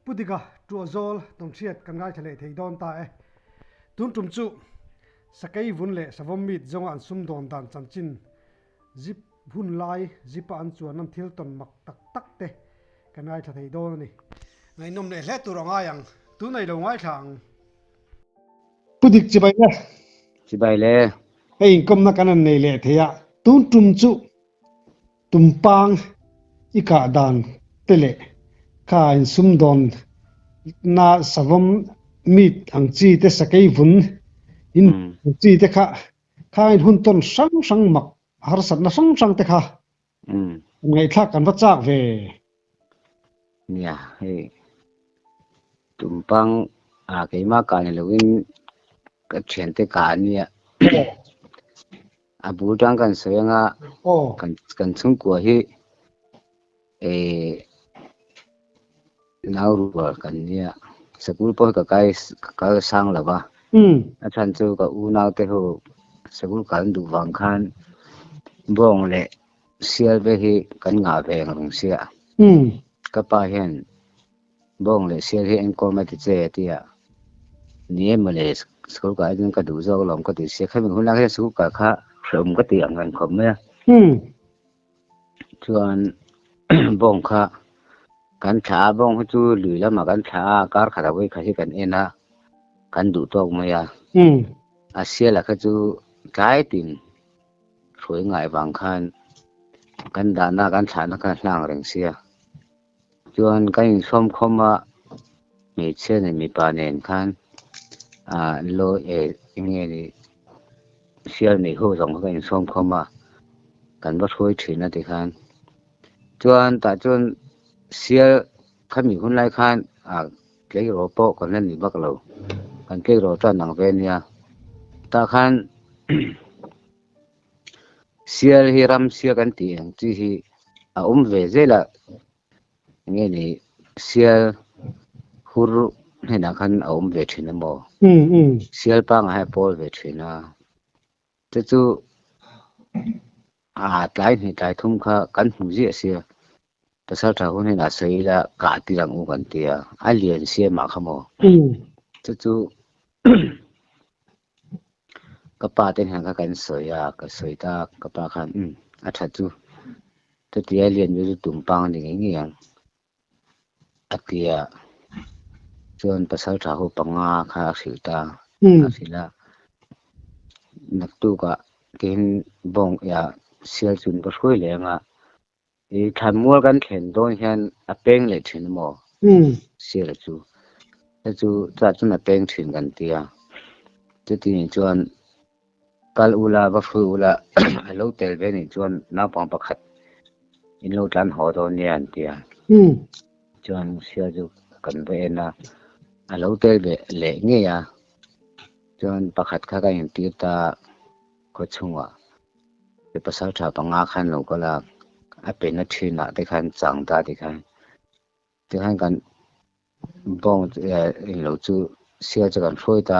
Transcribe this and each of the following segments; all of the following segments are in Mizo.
Pu Dika, Tuahzawl Tawngchhiat kan ngaithla leh thei dawn ta e. Tun tum chu Sakei vun leh Savawm mit zawnga an sum dawn dan chanchin zip hun lai zipa an chuan an thil tawn mak tak tak te kan ngaithla thei dawn a ni. Ngaihnawm leh hle tur a ngai ang. Tun nei lo ngaithla ang. Pu Dik, Chibai le. Chibai le. Hei inkomna kan rawn nei leh thei a. Tun tum chu Tumpang i kah dan te leh ka in sum dawn na savam mit ang chi te sakei vun in ang chi te kha ka in hun tawn hrang hrang mak harsatna hrang hrang te kha ngaih thlak kan va chak ve. nia hei tumpang a keima kah ni lovin ka thian te kah ania a bul tang kan sawi anga kan kan chhungkua hi eh nau rual kan nia sakul pawh ka kai ka kal sang lova a than chu ka u nau te ho sakul kal duh vang khan bawng leh Sialve hi kan ngah ve ang rung sia. Ka pa hian, Bawng leh sial hi eng kawm a ti che? a ti a. Ni emaw le, school kah atin ka duh zawk alawm ka ti sia. Khami hunah hian school kah kha hrehawm ka ti ang reng khawp mai a. Chuan bawng kha kan thlah a, bawng hi chu lui lamah kan thlah a, kar khat a vawi kha hi kan en a, kan duh tawk mai a. A sial a kha chu tlai tin. Hrui ngai vang khan kan dahna kan thlahna khan a hlang reng sia. Chuan kan insawm khawm a, hmeichhia nen mipa nen khan law eh enge ni sial neih ho zawng kha kan insawm khawm a, kan va hruai thin a ti khan. Chuan tah chuan sial. Khami hunlai khan a tleiraw pawh kan la ni bak lo, kan tleiraw chu a nang ve nia. Tah khan sial hi ramsial kan tih ang chi hi a awm ve zel a, nge ni sial hur hnenah khan a awm ve thin emaw? Sial pangah hi a pawl ve thin a. Te chu aa tlai hnih tlai thum kha kan hmu ziah sia, Pasal tha hun hian a sawi ila kah tir ang u kan ti a, a lian sia mah kha maw. Chu chu ka pa ten hian kha kan sawi a, ka sawi ta ka pa khan umm a tha chu, chutia lian ve chu tum pang a ni ngei ngei ang. a tia chuan pasal tha ho panga kha a hrilh ta a hrilh a naktuk ah tin bawng ya sial chun ka hruai leh anga i than mual kan thlen dawn hian a peng leh thin maw sial chu chu chah chun a peng thin kan tia chu ti nen chuan Kal u la, va fuih u la, a lo tel ve nih chuan naupang pakhat in lo tlan haw dawn nia an ti a. Chuan Musia chu kan va en a, a lo tel ve leh ngei a, chuan pakhat kha ka in tir ta a, khaw chhungah mi pasal tha panga khan lo kal a, a pe na thinah te khan chang ta ti khan, ti khan kan bawng in lo chu Sia chu kan hruai ta,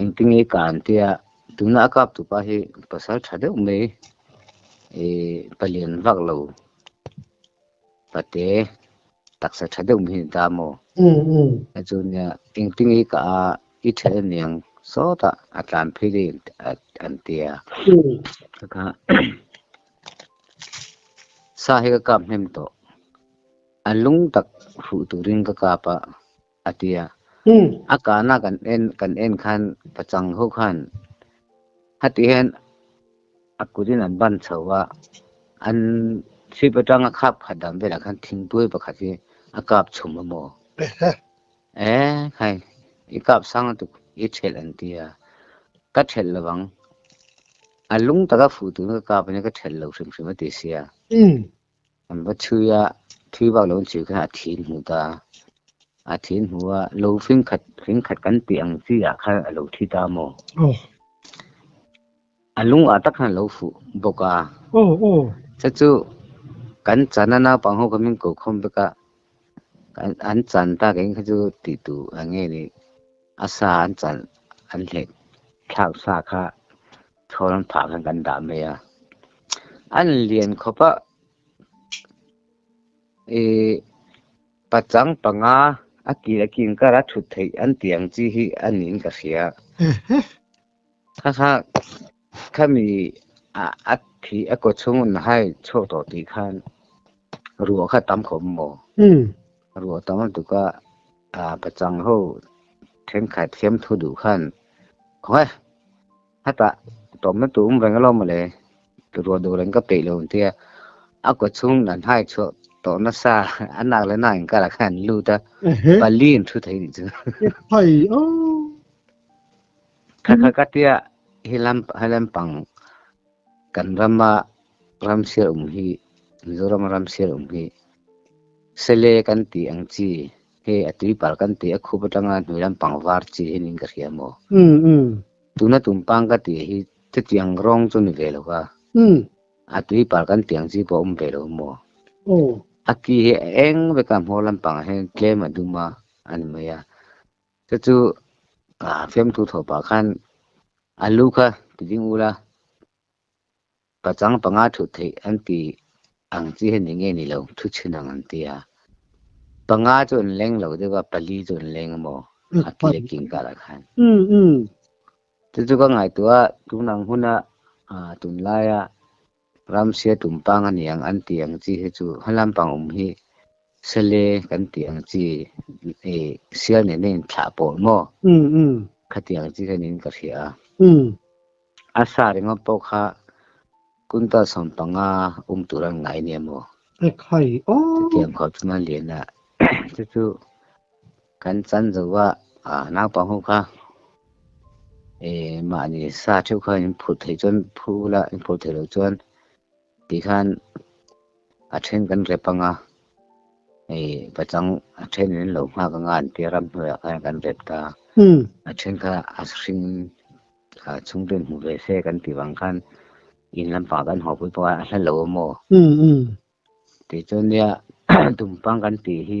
Engti nge ka an tia, tuna a kap tu pa hi pasal tha deuh mai, i palian vak lo pate taksa tha deuh mai hi ni ta maw? A chu nia, engti nge ka a, i then a niang sawta a tlan phei daih a an tia. Ka kha sa hi ka kap hnem tawh, a lung tak hruh turin ka kap a. a ti a. A kahna kan en kan en khan ka chang ho khan hati hian a kutin an ban chho a, an sweep atanga khap khat dam velah khan thingpuai pakhat hi a kap chhum a maw. E khai i kap sang a tuk i ṭhelh an ti a, ka ṭhelh lo vang, a lung taka fuh turin ka kap ania ka ṭhelh lo hrim hrim a ti sia. Kan va thui a, thui vak lo chu kha a thih hmu ta, a thih hmu a, lo fing khat fing khat kan tih ang chi ah kha a lo thi ta maw. Oh. A lung ah tak khan lo fuh bawk a. Oh oh. Chu chu kan chan a naupang ho kha min ko khawm vek a, kan an chan ta kan kha chu ti tu ang nge ni, a sa an chan an hlek thlak sa kha. Thawng phah khan kan dah mai a, an lian khawp a, i pachang panga a kil a kin kar a thut theih an tih ang chi hi a niin ka hria. Kha kha khami a thi a kawchhungun hai chhawk tawh tih khan ruah kha tam khawp maw. Ka ruah tam lutuk a, ka chang ho thenkhat thiam thu duh khan khawnge hatah tawpna tur awm reng alawm ale, ka ruah duh reng ka peih lo an ti a, a kut chhung an hai chhuak tawh nasa a nak leh nak in karah khan an lut a, pali an thu thei nih chu. Phai o! Kha kha ka ti a, hi lampang. Kan rama ram sial um hi, Mizorama ram sial um hi, Sele kan tih ang chi, hei a tui pal kan tih a khup atanga hnui lam pangvar chi hi niin ka hria maw? Tuna tumpang ka tih hi chutiang rawng chu ni ve lo va, a tui pal kan tih ang chi pawh a awm ve lo maw? A ki hi a eng veka hmawr lampangah hian tlem a dum a, a ni mai a. Te chu a femtu thaw pah khan a lu kha ti ding ul a, pachang panga thuh theih an ti ang chi hian ni ngei ni lo, thu chin ang an ti a. Panga chu an leng lo deuh a, pali chu an leng maw a ti a king karah khan. Chu chu ka ngaihtuah tunang huna tunlaia Ramsia tum pang a ni ang an tih ang chi hi chu hmalam pang awm hi Sele kan tih ang chi i sial nen a inthlah pawh maw kha tih ang chi kha niin ka hria a. A sa ringawm pawh kha kuntal sawm panga um tur an ngai nia maw? Ka tih ang kho chuan a lian a, chu chu Kan chan zo a, ah naupang ho kha eh mahni sa theuh kha in phurh thei chuan phu la in phurh thei lo chuan tih khan a then kan rep ang a eh pachang a then in lo nghak anga an tia ram hnuaiah khan kan rep ta a then kha a hring a chhungten hmuh ve se kan tih vang khan in lampang kan haw pui pawh a hla lo awm aw tih chuan nia tumpang kan tih hi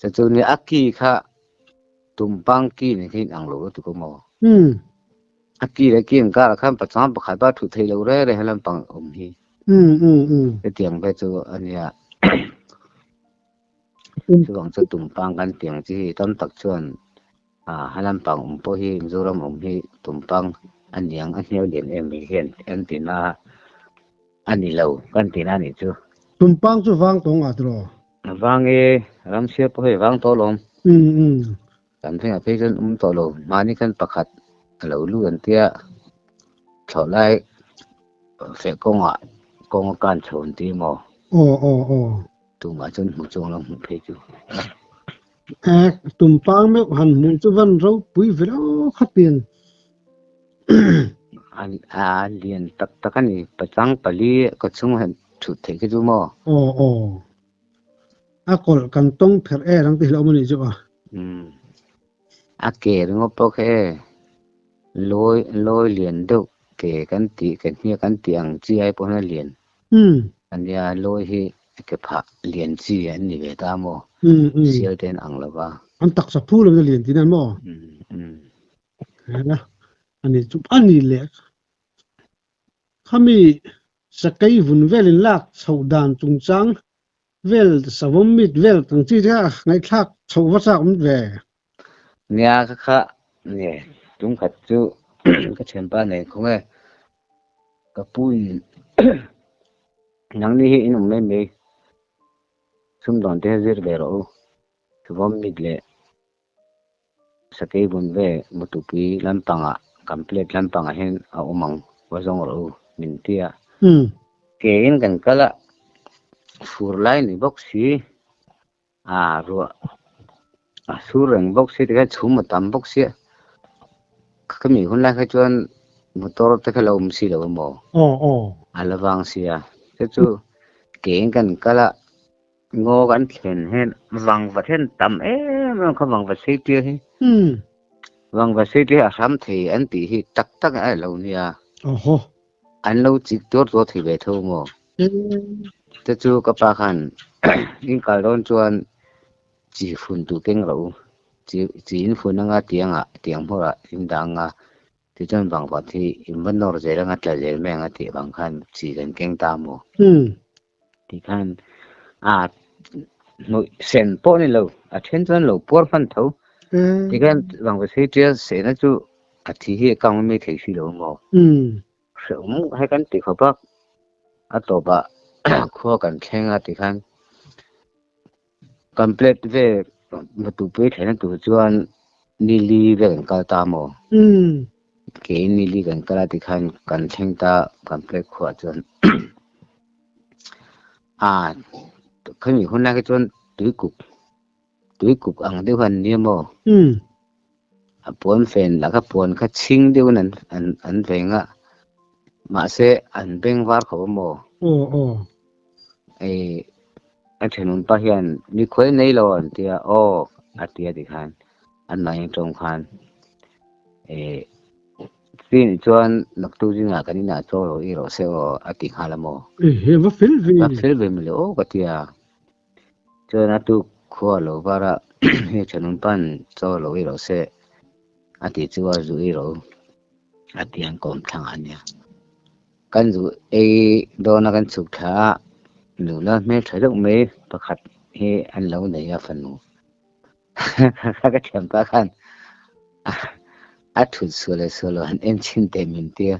Chatu ni aki kha tumpang ki ni khin ang lo lo tu ko mo. Hmm. Aki le ki ang kar khan pachang pakhat ba thu thei lo re re halam pang um hi. Hmm hmm hmm. Te tiang ve chu ania. Chu bang chu tumpang kan tiang chi hi tam tak chuan A lampang awm pawh hi Mizoram awm hi tumpang a niang a hnial lian em mai hian kan ti na a ni lo, kan ti na a nih chu. Tumpang chu vang tawng a tiraw? Vang e, Ramsia pawh hei vang tawh alawm. Umm umm. Kan zingah phei chuan awm tawh lo, mahni khan pakhat a lo lu an tia, thlawh lai feh kawngah kawng a kan chho an ti maw? Aw aw aw. Tumah chuan hmu chuang lam hmuh phei chu. eh tumpang meuh han hmuh chu van ropui velo khatin an a lian tak tak a ni pachang pali ka chung han thu thei ka chu maw aw aw a kawlh kan tawng pherh e rang ti hlauh mawni chu a um a ke ringaw pawh khe lawi lawi lian deuh ke kan tih kan hniah kan tih ang chi ai pawh hian a lian Umm. Ania, Lawi hi ke phah lian chi an ni ve ta maw? Sial te an ang lo va. An taksa phu lo na lian ti nan maw? Ania, ani chu a nih leh. Khami sakei vun velin lak chhoh dan chungchang Vel savawm mit vel kan chi tia ngaihthlak chho va chak mit ve. Nia ka kha ni tum khat chu ka thianpa nei khaw nge ka pu in nangni hi in awm mai mai sumdawnte zir ve rawh u savawm mit leh Sakei bun ve Mutupui lampangah kan plate lampangah hian a awm ang, va zawng rawh u min ti a. Keiin kan kal a, fur lai ni bawk si, aa ruah a sur reng bawk si tikah hian chhum a tam bawk sia, khami hunlai kha chuan motor te kha lo awm si lo emaw? a la vang sia, chu chu keiin kan kal a. Ngaw kan thlen hian vang va thlen tam em em kha vang va seitia hi vang va seitia a hram thei an tih hi tak tak a lo nia oho an lo chik tur tur thei ve tho mo te chu ka pa khan in kal don chuan chi fun tu keng lo chi chi in fun anga tiang a tiang hmur a in dang a ti chuan vang va thi in va nor zel anga tla zel mai anga ti vang khan chi kan keng ta mo tih khan a hnuih sen pawh ni lo a then chuan lo puar hman tho tih khan rangvasei tial sehna chu a thi hi account a maithei si lo maw hreu mu hai kan tih kho bak a tawpah khua kan thlenga tih khan Kan plate ve natupui thlena tur chuan nili vel kan kal ta maw kei nili kan kala ti khan kan thleng ta kan plate khuwa chuan a khami hunna khi chuan tui kuk tui kuk ang deuh han nia maw A puanfen lah kha puan kha chhing deuhin an an an vei ngah. Mahse an beng var kho a maw? Aw aw. Ei a thenunpa hian mi khuai nei lo an tia aw a tia ti khan an mahni tawng khan ei chin chuan naktu zina kan ina cho lo erawh se aw a ti nghal a maw. Ei he va fel ve a ni. Va fel ve mawleh aw ka tia. Chuan a tuk khua lo vara hei thanun pan chaw lo i rawh se a ti chu a zu i rawh a ti ang kawm thlang ah a nia. Kan zu ei dawn a kan chhuk thla a nula hmel tha deuh mai pakhat hi an lo nei a fanu. Kha ka thiam ta khan a thut su le su lo han en chin te min tia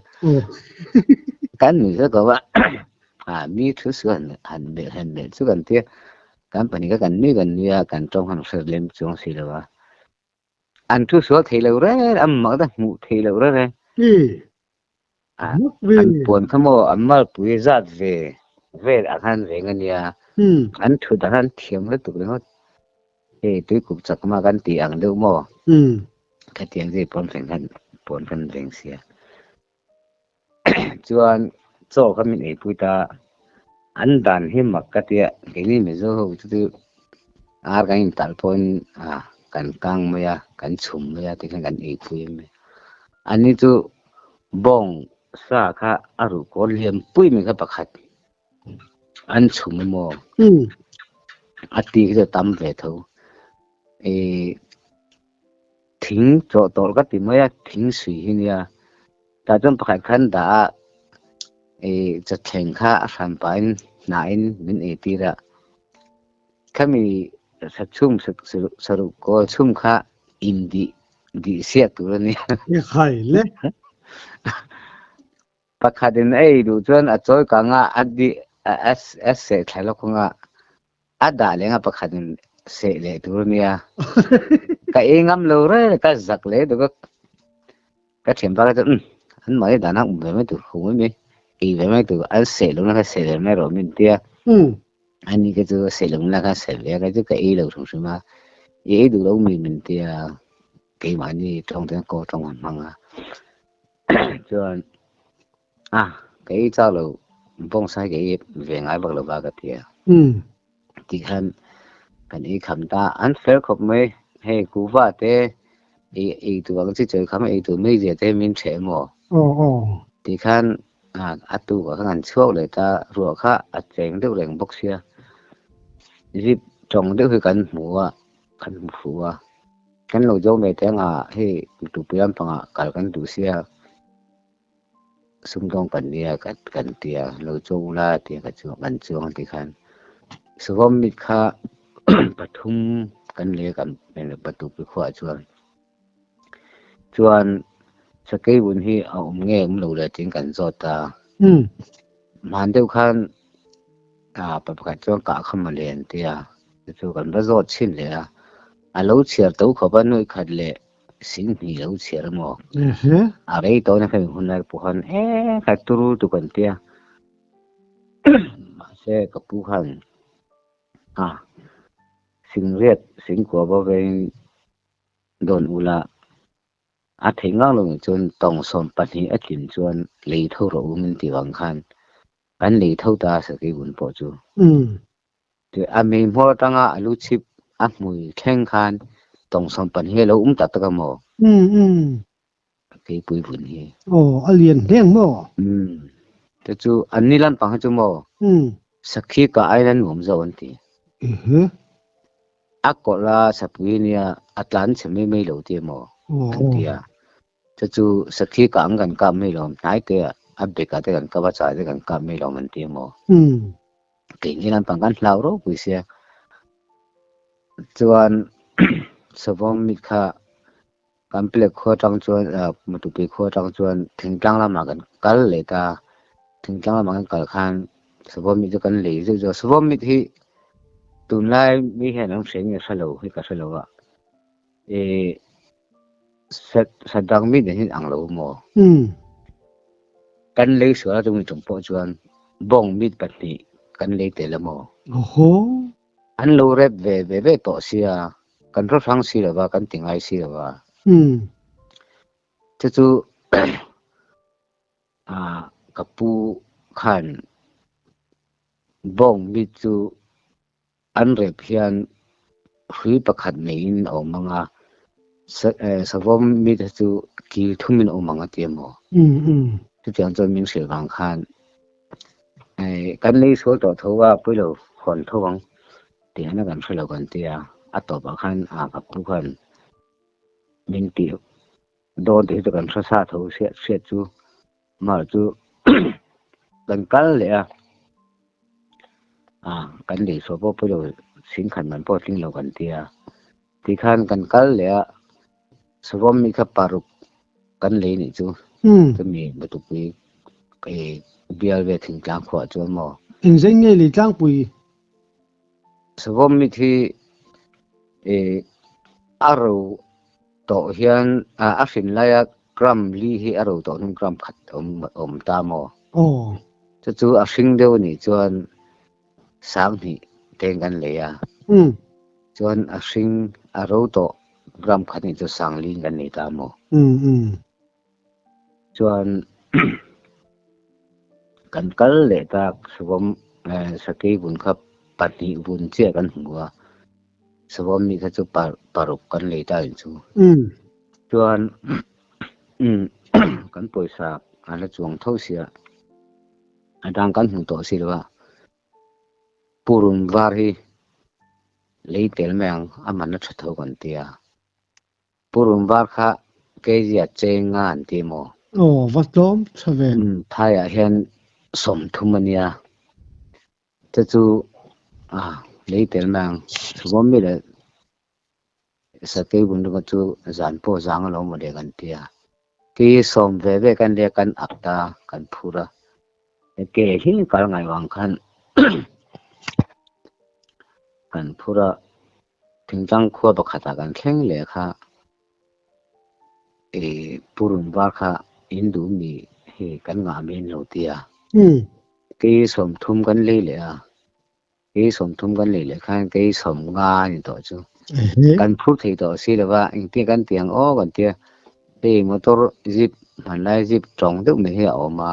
kan ni za gawa a mi thu su han han be han be chu kan tia kan pani ka kan ni kan ni a kan tong han ser lem chung si lo a an thu su thei lo re am ma da mu thei lo re re an puan kha maw an malpui zat ve vel ang han veng ania an thut ah han thiam lutuk reng hawt hei tuikuk chak ma kan ti ang deuh maw khatiang zui puan reng han puan kan veng sia chuan chaw kha min ei pui ta An dan hi mak ka tia keini Mizo ho te chu ar kan in tal pawhin ah kan kang mai a kan chhum mai a tikhan kan ei pui em e ani chu bawng sa kha a ruh kawr liam pui mai kha pakhat an chhum em aw a ti khi tam ve tho e Thing tlawh tawh ka ti mai a, thing sui hi nia. Tah chuan pakhat khan dah a cha thleng kha a hran pahin hnahin min ei tir a, khami hrathum saruh kawl chhum kha in dih dih siah tur a nia. I khai le. Pakhatin a ei duh chuan a chawi kangah a dih a seh thlai lawk kawngah A dah leng a pakhat in seh leh tur nia ka ei ngam lo rel ka zak leh duh vek ka thiam bak chu um an mah hi dana um ve mai tur kho mai mai ei ve mai tur an seh lo na kha seh ve mai rawh min tia um ani ka chu seh lo na kha seh ve ka chu ka ei lo hrim hrim a i ei duh lo mi min tia keimah ni thawng ten ko thawng han hmang a chuan A, kei chau lo, bawng sai kei hi ve ngai bak lo va ka ti a. Um. Ti khan kan ei kham ta, an fer khawp mai, hei kuva te ei ei tur ang chi chawi kham ei tur mai zia te min chhe emaw. Aw aw. Ti khan a a tu ka khan an chhuak leh ta, ruah kha a cheng deuh reng bawk sia. Zip tawng deuh hi kan hmu a, kan hmu fuh a. Kan lo zawm ve te anga hei tupui lampangah kal kan duh sia. Sumdawng kan nia ka kan ti a, lo chuang u la a ti a, ka chuang kan chuang a ti khan Savam mit kha pathum kan leh kan patuk pi khuah chuan chuan Sakei vun hi a awm nge awm lo le tiin kan zawt ta hman deuh khan a pa pakhat chuan kah kha mawle an ti a chu kan va zawt chhin leh a, a lo chhiar to khawp a nuaih khat leh Sin hnih lo chhiar emaw? A rei tawn a hreih hun lai pawh khan eee kha turul tu kan tia. Mahse ka pu khan a singriat sin kuava vengin dawn ula a theih ngang lo nih chuan tawng sawm pahnih a tlin chuan lei tho rawh u min ti vang khan kan lei tho ta a sakei hun pawh chu. Keh, a meimual atanga a lu chhip a hmui thleng khan tawngsam pahnih a lo awm ta tak a maw? Umm umm. A keipui vun hi. Aw, a lian hle ang maw? Umm. Te chu an ni lampang hi chu maw? Umm. Sakhi kah aiin a nuam zauh an ti. Ehe. A kawlh a, Sapuii nia a tlan chhe mai mai lo tih emaw? Aw. An ti a. Chu chu sakhi kah ang kan kap mai lawm, hnai te ah a bag ah te kan kap a, chai te kan kap mai lawm an ti emaw? Kei nge lampang kan hlau rau pui sia. Chuan Sawm mit kha kan plek khaw atang chuan Matupi khaw atang chuan Thingtlang lam ah kan kal leh ta. Thingtlang lam ah kan kal khan Sawm mit chu kan lei zeuh zeuh a, Sawm mit hi tunlai mi hian an hre nge hre lo hi ka hre lo a. Ih sat satdang mi nen hin anglo mo kan lei suala tu mi tum po chuan bawng mit pahnih kan lei tel amo oho an lo rep ve ve ve to sia kan ro hrang si lova kan ti ngai si lova chu chu a ka pu khan bawng mit chu An rep hian hrui pakhat neiin a awm ang a, Savawm mite chu kil thumin a awm ang a ti a maw? Chutiang chuan min hrilh vang khan, Kan lei sual tawh tho a, puilo hawn tho ang ti han a kan hre lo kan ti a. A tawpah khan a vappu khan, Min tih dawn tih hi chu kan hre sa tho hriat hriat chu, Amah chu kan kal leh a, a kan lei saw pawh pawilo sin khan man pawh tling lo kan ti a, ti khan kan kal leh a savam mi kha paruk kan lei nih chu chumi lutukpui bial ve thingtlang khuah chuan maw. Engzeng nge lei tlangpui Chhawm mit hi e a ro tawh hian a a hrin lai a gram li hi a ro tawh hnung gram khat awm awm ta maw. Aw. Chu chu a hring deuh nih chuan sang hnih te'n kan lei a. Umm. Chuan a hring a ro tawh gram khat nih chu sang li kan nei ta maw. Umm umm. Chuan kan kal leh tak Savam sakei vun kha pahnih vun chiah kan hmu a, Savam nih kha chu paruk kan lei ta in chu. Chuan kan pawisa a la chuang tho si a, a tang kan hmu tawh si lo a, Pu Run Var hi lei tel mai ang a man a tha tho kan ti a. Purum var kha kg a cheng nga an ti maw? Aw va tlawm tha ve. Umm Thai ah hian sawmthum a nia. Te chu ah lei tel mai ang. Chhawm mi leh sakei bun rawngah chu zan pawh zang a lo maw le kan ti a. Kei hi sawm ve ve kan ria kan ak ta kan phur a. Kei hi kal ngai vang khan kan phur a. Thinchang khua pakhatah kan thleng leh kha i purun var kha in duh mi hi kan ngah min lo ti a. Kei sawm thum kan lei leh a, kei sawm thum kan lei leh khan kei sawm nga a ni tawh chu. Kan phur thei tawh si lo va, engtin kan ti ang aw kan ti a. Hei motor jeep hmanlai jeep tawng deuh mai hi a awm a,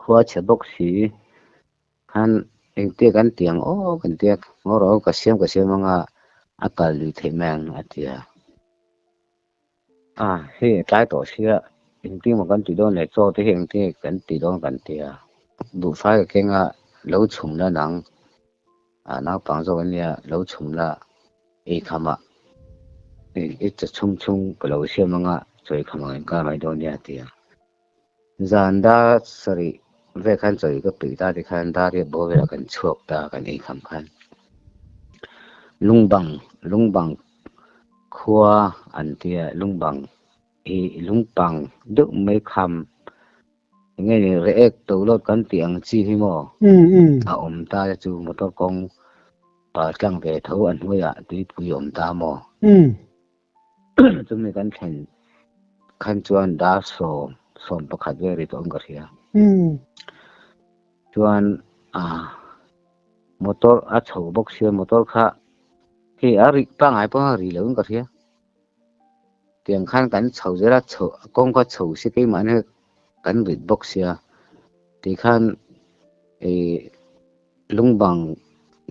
Khua chhe bawk si khan engtiah kan ti ang aw kan ti a, ngaw rawh ka siam ka siam anga a kal lui theih mai ang a ti a. A hei a tlai tawh si a, engtiang maw kan ti dawn le chaw te hi engtiang nge kan ti dawn kan ti a, duhfai ka keng a lo chhum la nang a naupang zawk ania lo chhum la ei kham ah i cha chhung chhung ka lo siam anga chawi kham ang in kal mai dawn nia a ti a. Zan dar sarih vel khan chawi ka peih ta te khan dar hi a bawl velah kan chhuak ta a kan inkham khan lungbang lungbang khua an tia lungbang i lungpang deuh mai kham nge ni re ek to lot kan ti ang chi hi mo a om ta chu motor kong pa tlang ve tho an hnuaia tuipui om ta mo chumi kan thlen khan chuan dar sawm sawm pakhat ve ri tawh ka hria chuan a motor a chho bawk sia motor kha hei a ri pangai panga ri lo ka hria tiang khan kan chho zera chho kawng kha chho si kei mah ne kan rit bawk sia ti khan e lungbang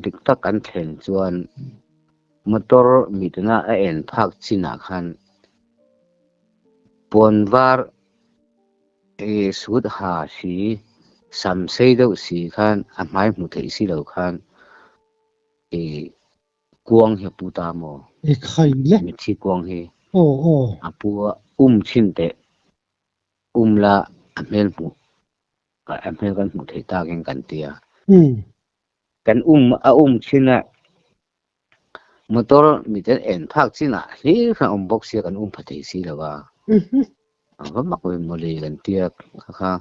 dik tak kan thlen chuan Motor mitna a en phak chinah khan puan var ee suit ha si, sam sei deuh si khan a hmai hmu theih si lo khan ee kuang hi a pu ta maw? Mitthi kuang hi a pu a um chin teh um la a hmel hmu a hmel kan hmuh theih takin kan ti a. Kan um a um chin a Motor mit an en phak chin ah hlir hran awm bawk sia kan um pha thei si lo va. A va mak ve maw le kan tia kha kha.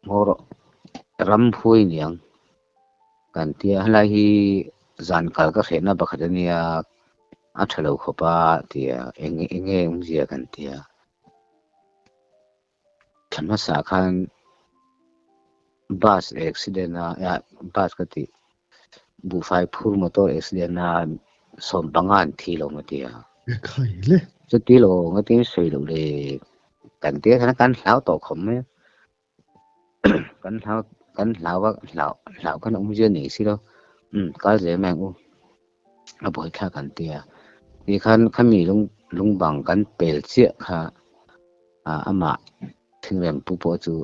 Hmaw rawh ram phui niang kan tia halai hi zan kal ka hrehna bakhat a nia a tha lo khawp a tia enge enge um zia kan tia. Thla hmasa khan bus accident a ya bus ka ti buhfai phur motor accident a sawm panga an thi lo ma tia. E khai le. Chuti lo nga tin sawi lo le kan te khan kan hlau tawh khawm mai kan hlau kan hlau a hlau hlau kan awm zia nei si lo um kal zia mai ang u. a buaithlak an ti a, ni khan khami lung lungbang kan pel chiah kha a amah thingrempu pawh chu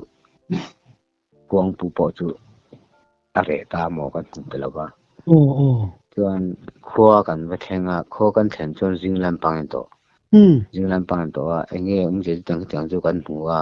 puangpu pawh chu a reh ta maw kan hmu ta lo va oh oh chuan khua kan va thleng a khaw kan thlen chuan zing lampang in tawh zing lampang in tawh a enge awmzia chu tiang tiang chu kan hmu a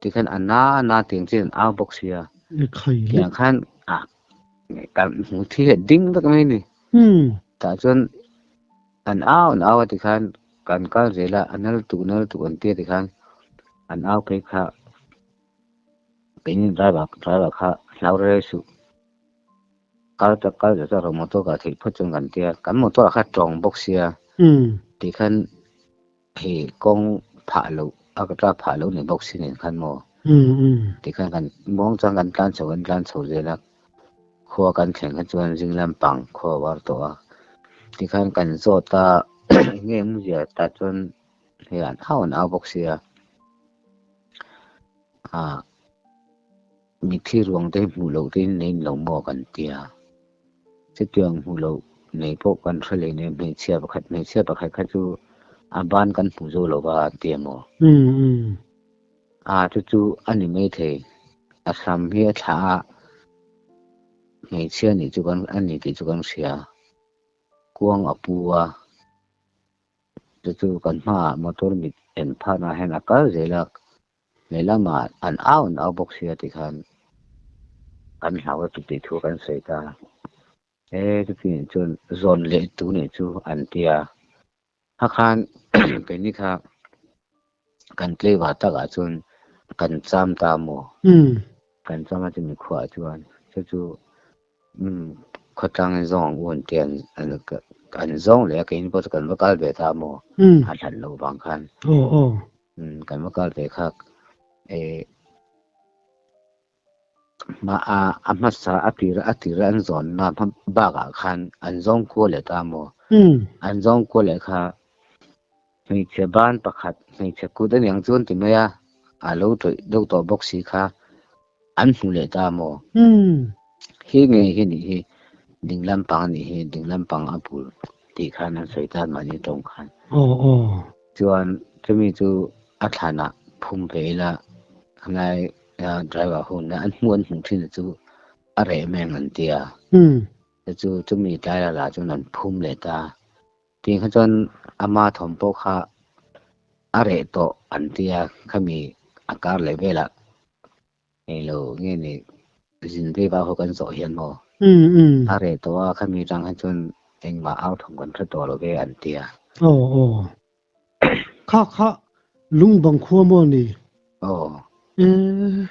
Tih khan a na a na tih ang chian a au bawk sia. E khai hlek. Tiang khan a kan hmu thil leh ding vek mai ni. Tah chuan an au an au a ti khan kan kal zel a a nal tu nal tu an ti a ti khan an au phei kha keini driver driver kha hlau rel rel suh. Kal tak kal zel tak motor kah theih phawt chuan kan ti a kan motor kha tawng bawk sia. Tih khan Hei kawng phah loh a ka tla phah loh ni bawk si nen khan maw? Ti khan kan muang chuan kan tlan chhoh in tlan chhoh zel a, khua kan thleng khan chuan zing lampang khua a var tawh a. Ti khan kan zawt a, enge eng zia tah chuan hei an au an au bawk si a. Aa. Mitthli ruang te hmuh loh tein nein lo maw kan tia, chutiang hmuh loh nei pawh kan hre leh nen hmeichhia pakhat hmeichhia pakhat kha chu a ban kan hmu zo lo va an ti em aw. Aa chu chu a ni mai thei, a hram hi a thlah a, hmeichhia nih chu kan a ni tih chu kan hria, kuang a pu a, chu chu kan hmaah motor mit en pharna ah hian a kal zel a, Lehlam ah an au an au bawk sia ti khan kan hlau a chutih thu kan sawi ta. He chuti nen chuan zawn leh tu nen chu an ti a. Kha khan keini kha kan tlaiva tak ah chuan kan cham ta maw? Kan cham a chumi khuah ah chuan chu chu khawtlang in zawng ang u an ti a. An zawng leh a keini pawh chu kan va kal ve ta maw? A hlan loh vang khan. Kan va kal ve khak e ma a a hmasa a tira a tira an zawn na hmam bak a khan an zawn kua le ta mo hmm. an zawn kua le kha hmei che ban pakhat hmei che kut an yang chuan ti mai a a lo troi deuh tawh bawk si kha An hmu leh ta maw? Umm. Hi ngei hi nih hi ding lampang a nih hi, ding lampang a bul tih khan an sawi tan mah ni tawng khan. Aw aw. Chuan chumi chu a thlanah phum ve ila helai driver ho nen an hmu an hmuh thina chu a reh meng an tia. Umm. Chu chumi tlai la lah chuan an phum leh ta. Tih kha chuan ama thawm pawh kha a reh tawh an tia khami a kar leh vela ngei lo nge ni zin vei va ho kan zawh hian maw a reh tawh a khami tang kha chuan engmah au thawm kan hre tawh lo ve an tia. Aw aw kha kha Lungbang khua maw ni? Aw. Eeh.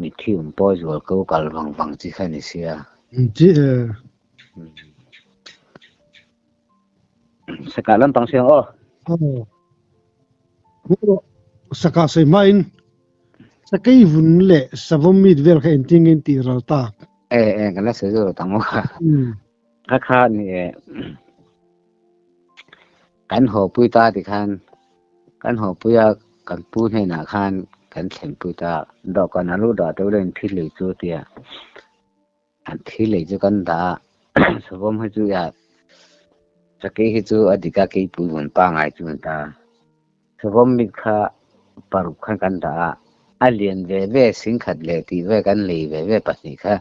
Mithi um pawi zual ko kal vang vang chi kha ni sia. Inti e. Saka lampang siang aw. Aw. Aw. Saka sei ma in. Sakei vun le savom mit vel kha inti nge inti ral ta. E e kan la sei zo tang mo kha. Kha kha ni e. Kan hawpui ta ti khan kan hawpui a, kan pu hnenah khan kan thlenpui ta. Dawhkan a luh dah teuh lahin thil lei chu tia an thil lei chu kan dah a, Sawm hi chu iah Sakei hi chu a dik a keipui hun pangai chu an ta. Sawm mit kha paruk khan kan dah a, a lian ve ve sing khat leh tih ve kan lei ve ve pahnih kha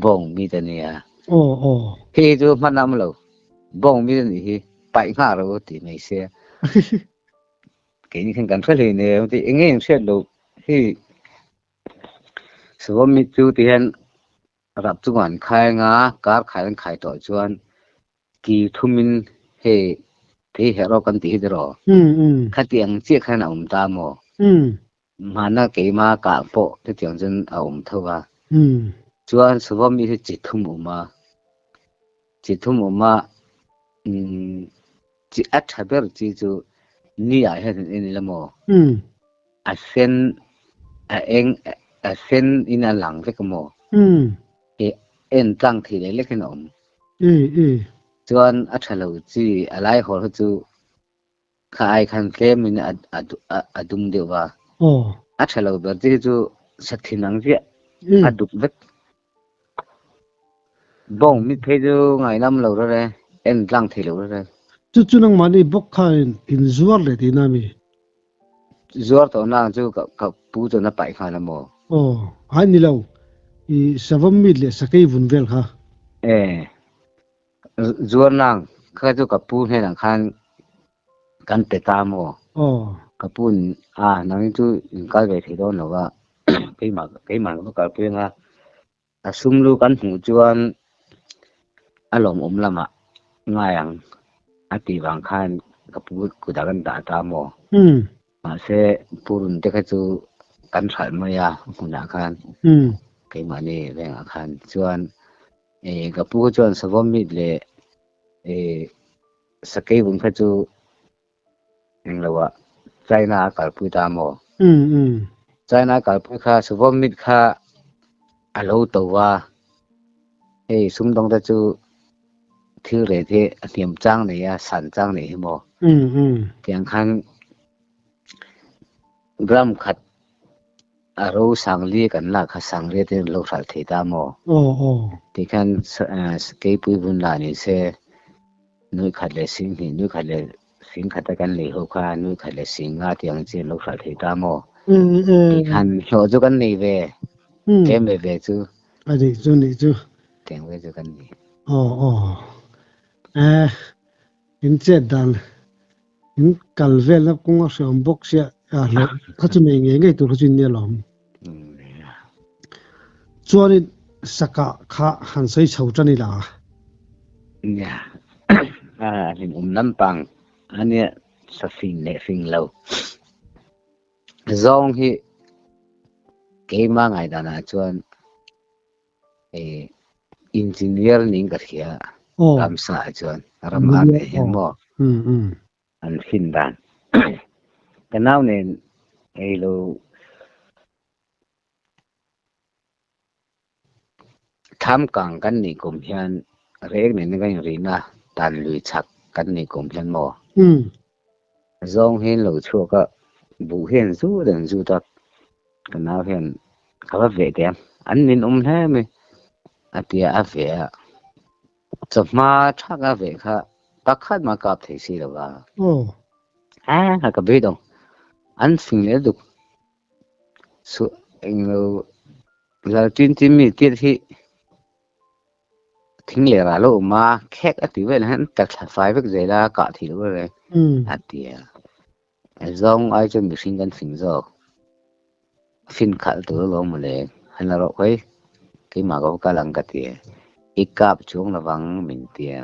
bawng mit a nia. Hi hi chu hman a awm lo. Bawng mi nih hi paih nghah ro tih mai se. Keini khan kan hre hlei nen ti enge eng hriat lo hi Sivom mi chu ti hian rap chung an khai nga kar khai an khai tawh chuan ki thumin he thei hero kan ti hi dero. Khati ang che khan a um ta mo. Hmanah keima kah pawh chutiang chuan a awm tho a, chuan Suvawmi hi chi thum awm a, chi thum awm a, chi a tha ber chi chu ni-ah hian an en ila maw? A sen, a eng, a sen in a lang vek a maw? He en tlang thei lek lek in a awm. Chuan a tha lo chi a laihawl ho chu Kha ai khan tlem in a dum deuh va. A tha lo ber te hi chu sathin ang chiah a duk vek. Bawng mit phei chu ngai lam lo rel e, en tlang thei lo rel e. Chu chu nangmah ni bawk kha in zuar leh tihna mi? Zuar tawh na ang chu ka pu chuan a paih nghal a maw? Aw, ai ni lo. I savam mit leh sakei vun vel kha. E, Zuarnang kha chu ka pu hnelah khan kan pe ta maw? Aw. Ka pu'n a, nangin chu min kal ve thei dawn lo va, keimah keimah ka va kal pui anga a sum lu kan hmuh chuan a lawmawm lamah ngai ang a tih vang khan ka pu kutah kan dah ta maw? Mahse Pu Runte kha chu kan hralh mai a, a hmunah khan keimahni vengah khan chuan ka pu kha chuan Savawmit leh Sakeivun kha chu englo a China a kalpui ta maw? China a kalpui kha Savawmit kha a lo to a, hei Sumdawngte chu Thil rêt hi a hniam châng nei a, san châng nei hi maw? Tiang khan gram khat a ro sang li kan lak kha sang rêt in lo hralh thei ta maw? Ti khan Keipui Vunlanin se nuih khat leh sing hnih nuih khat leh Hring khata kan nei ho kha nui khat leh sing nga tiang chi an lo hral thei ta maw? Tih khan hlawh chu kan nei ve. Tlem ve ve chu. A nih chu nih chu. Tiang ve chu kan ni. Aw aw. Eh, in chet dan in kal velna kawng a hreawm bawk sia. Aa hlawh kha chu nei ngei ngei tur kha chu in ni alawm. Chuan i saka kha han sawi chho tan ila. Nia. A hlim um lampang a nia sa fing leh fing lo. Zawng hi keima ngaidanah chuan e engineer niin ka hria. Ramsa ah chuan ram ar leh hian maw. an sin dan ka nau nen ei lo tham kang kan ni kum hian rek nen ka in rin a tan lui chak kan ni kum hian maw hmm. zong hian lo chhuak a bu hian zu dan zu tak ka nau hian ka va ve te an min um hle mi atia a ve a Chawhma thak a ve kha pakhat ma kap thei si lo va. Oh. A ha ka bit ong. An fing le duk. Su eng lo lal tin tin mi tir hi thing le ra lo ma khek a ti vel han tak thla fai vek zela ka thi lo re. Hmm. A tia. Zawng ai chuan mihring kan fing zawk, fin khalh tur alawm mawle, han la rawh khawi, keimah ka vawkal ang ka ti a, i kap chuang lovang min ti a,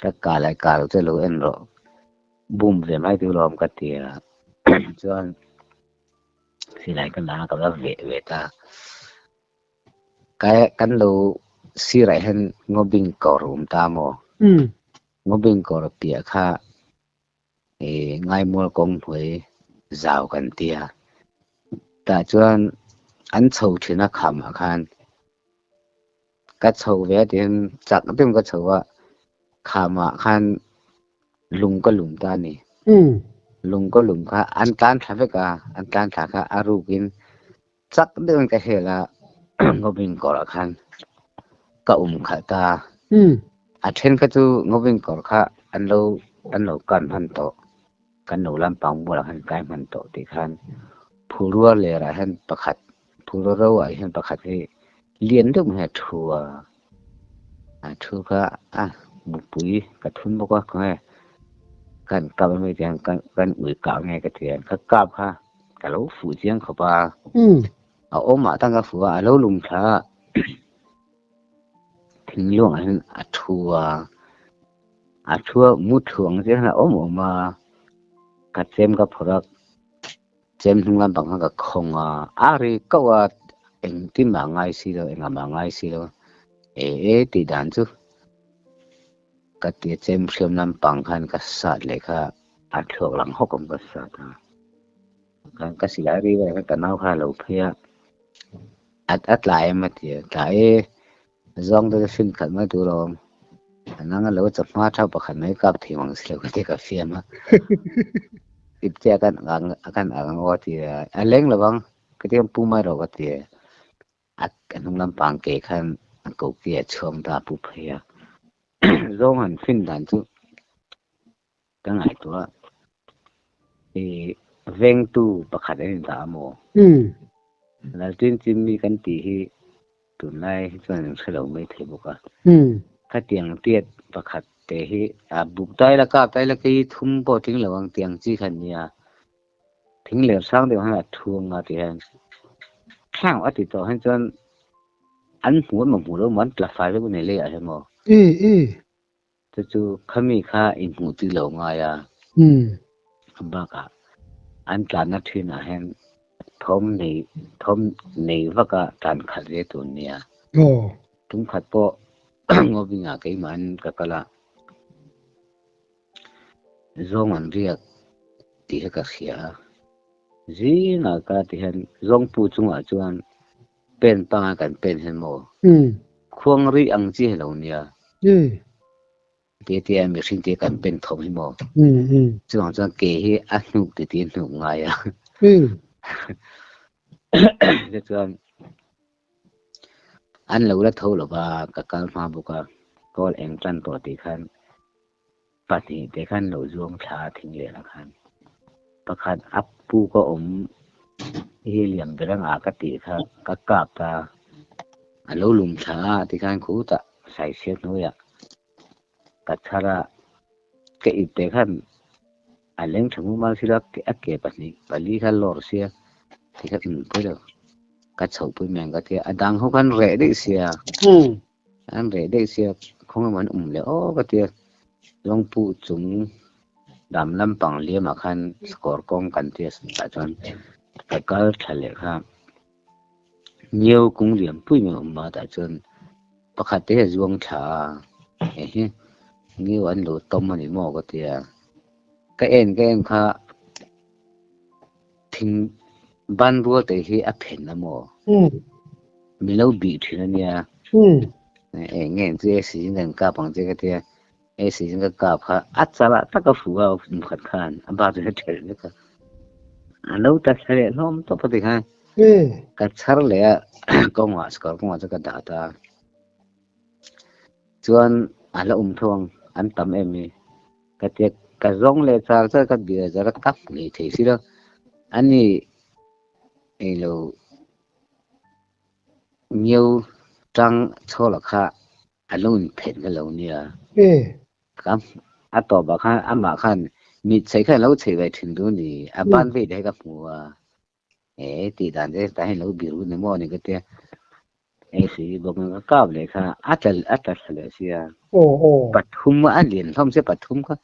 ka kal ai kal chu lo en rawh, bum ve mai tur alawm ka ti a, chuan silai ka la a ka va veh ve ta, kai kan lo sirah hian ngawbing kawr a awm ta maw, ngawbing kawr piah kha I ngaimual kawng hnuai zau kan ti a, tah chuan an chho thin a khamah khan ka chho ve a tiin chak deuhin ka chho a, khamah khan lung ka lum ta a ni, lung ka lum kha an tlan thla vek a, an tlan thla kha a rukin Chak deuhin ka hel a, Ngawin kawrah khan ka awm khalh ta. A then kha chu ngawin kawr kha an lo an lo kar hman tawh, kan no lampang bulah khan kai hman tawh tih khan phu rual lerah hian pakhat, phu ro roah hian pakhat hi lian deuh mai a thu a, a thu kha a mupui ka thun bawk a ka nge kan kap mai mai tiang kan kan ui ka nge ka tian kha kap kha ka lo fu chiang kha pa hmm. a oma ah tanga fu a lo lum tha thing long an a thu a a thu mu thuang je na om oma ka chem ka phorak Chem hnung lam pang khan ka khawng a, a ri kauh a, engtin mah ngai si lo, engah mah ngai si lo, e e tih dan chu ka ti a, chem hriam lam pang khan ka sat leh kha, a thlawk lang hawk awm ka sat a, khan ka silai ri ber khan ka nau kha a lo phei a, a a tlai em a ti a, tlai e, Zawng te chu hrim khat mai tur a awm. A nang a lo chawp hma thap pakhat mai kap thei mang si lo ka ti ka fiam a. Tip che a kan ang a kan ang ang aw ti a. A leng lo vang ka ti ang Pu Mai Ro ka ti e. A a hnung lam pang ke khan a ko ki a chhuang ta Pu Phei a. Zawng han hrin dan chu ka ngaihtuah a, i vengtu pakhat an indah a maw? Laltin chimmi kan tih hi tunlai hi chuan min hrelo mai thei bawk a, khatiang tiat pakhat te hi a buk dai lak a, kai la kei hi thum pawh tling lo ang tiang chi kha an nia, thing ler sang deuh han a thu ang a tih hian thleng a ti tawh hian chuan an hmu an mawhmu lo maw, an tla fai vek u nei leh a hi maw? Chu chu khami kha inhmuh ti lo ngai a. A bakah an tlanna thinah hian thawm nei thawm nei vaka tlan khat ve tur a ni a. Tum khat pawh Ngawbingah keimah an ka kal a, zawng an riak tih hi ka hria a. Zingah ka ti hian Zawngpu chungah chuan Pen pangai kan pen hen maw? Khuang rih ang chi helo nia. Tete a mihring te kan pen thawm hi maw? Chuvang chuan kei hi a hnuk titi hnuk ngai a. Ti chuan an lo la tho lova ka kal hma bawk a, Paul eng tan tawh tih khan. Pahnih te kan lo zuam thla a thing leh lah khan pakhat a pu ka awm i hi liam ber ang a ka tih kha ka kap ta a lo lum thla a ti khan khutah saisir hnuaiah ka chhar a ka it te khan a leng tha mumal si lo a ke pahnih pali kha lawr sia ti kha ka nunpui lo ka chhoh pui mai ang ka tia a dang ho khan reh daih sia An reh daih sia khawnglam an awm leh awk a tia, Lawngpuh chung dam lampang Liamah khan score kawng kan ti a sawi tah chuan ka kal tha leh kha. Nio kung liam pui mai a awm a tah chuan pakhat te hi a zuang tha a, Ehe, Nio an lo tawm a ni maw ka ti a, ka en ka en kha. Thing ban rual te hi a phen la maw? Min lo bih thin ania. E nge chu e season kan kap ang che ka tia. E season ka kap kha a chala tak a fuga nim khat khan a ba chu he ther le ka. A lo ta thle hlom to pa ti kha. Ka char le a konga skor konga chu ka da ta. Chuan a la um thong an tam em mi. Ka tlek, ka zawng leh char char ka bia zar a kap ngei thei si lo. A ni ngei lo nio tang chhawla kha a lo inphen ka lo nia. Ka a tawpah khan amah khan mitchei kha a lo chei ve thin dun ni, a ban ve te hi ka hmu a, e tih dan te ta hian lo bir vun emaw ni ka tia e si bawk na ka kap leh kha a tal a tal leh sia o o pathum a lian hlom se pathum kha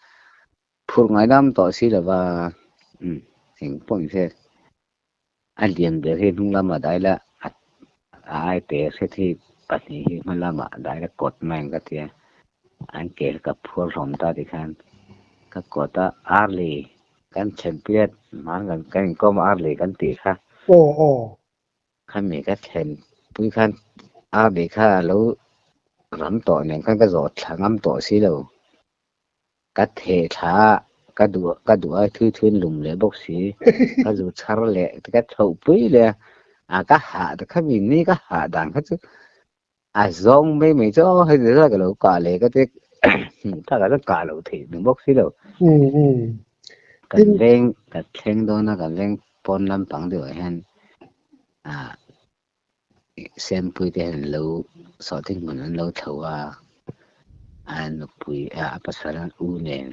phur ngai dam to si lova um thing pawm se a lian ber hi hnung lam a dai la a ai pe se thi pahnih hi hma lam a dai la kawt mai ka tia an kel ka phur hlom ta ti khan ka kawta arley Kan thlenpiat hmang kan kan inkawm ar leh kan tih kha. Aw aw. Khami ka thlen pui khan ar leh kha a lo ram tawh nen khan ka zawh thla ngam tawh si lo. Ka theh thla a ka duh ka duh a thui thuin lum leh bawk si. Ka zu chhar leh ka chhoh pui leh a. A ka hah ta khami ni ka hah dan kha chu a zawng mai mai chu aw hei zela ka lo kah leh ka te thla ka kah lo thei ni bawk si lo kan leng ka thleng dawna kan leng pawn lampang deuhah hian a sempui te hian lo saw thing hmun an lo thlo a a nupui a pasal u nen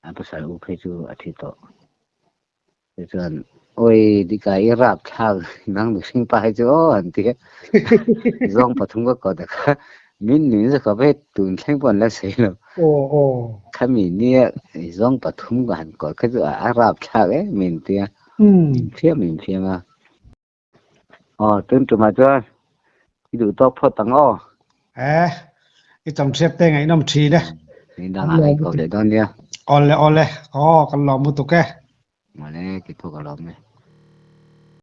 a pasal u phei chu a thi tawh Chu chuan Oi Dika i rap thlak nang mihring pa hi chu aw an ti a, zawng pathum ka kawt a kha min min zawk kha hei tun thleng pawh an la sawi lo. Khami nia zawng pathum ka han kawt kha chu a rap thlak em min ti a, min fiam min fiam a. Ɔ, tun tu mai chuan i duh tawk phawt ang aw. Eh, i tam hriat te ngaihnawm thin e. Min dang ah i kawp leh dawn nia. Awle awle, aw kan lawm lutuk e. Mawle, kithuk a lawm e.